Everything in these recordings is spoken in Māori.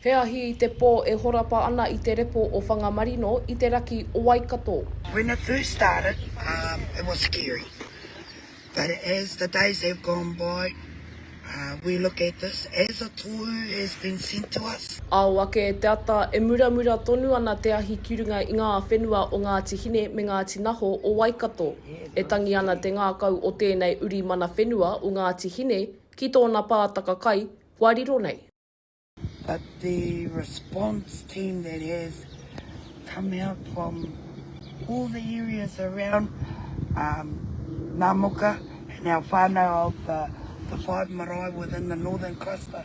He ahi i te pō e horapa ana i te repo o Whangamarino i te raki o Waikato. When it first started um it was scary but as the days have gone by um we look at this as a tohu has been sent to us. Ao ake te ata e muramura tonu ana te ahi ki runga i ngā whenua o Ngāti Hine me Ngāti Naho o Waikato. E tangi ana te ngākau o tēnei uri mana whenua o Ngāti Hine ki tōna pātaka kai kua riro nei. But the response team that has come out from all the areas around Namoka and our whanau of the five marae within the northern cluster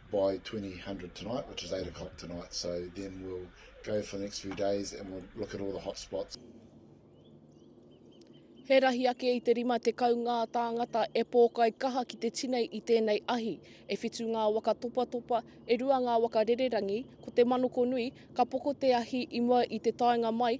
by 2000 tonight, which is 8 o'clock tonight. So then we'll go for the next few days and we'll look at all the hot spots. He rahi ake i te rima tekau ngā tāngata e pōkai kaha ki te tinei i tēnei ahi. E whitu ngā waka topatopa, e rua ngā waka rererangi, ko te manoko nui, ka poko te ahi i mua i te taenga mai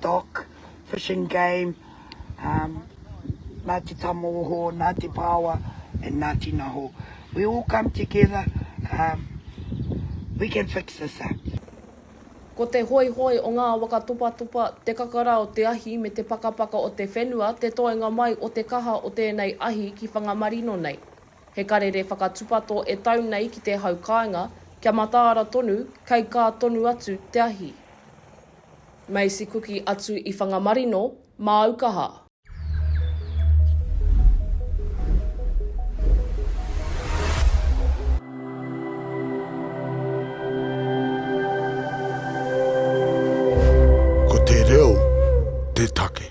dock, fishing game, Ngāti Tamōhō, Ngāti Paoa and Ngāti Naho. We all come together, we can fix this up. Ko te hoihoi o ngā waka topatopa, te kakara o te ahi me te pakapaka o te whenua te toenga mai o te kaha o tēnei ahi ki Whangamarino nei. He karere whakatupato e tau nei ki te hau kāinga, kia mataara tonu, kei kā tonu atu te ahi. Macy Kuki atu i Whangamarino, māu kaha. Ko te reo te take.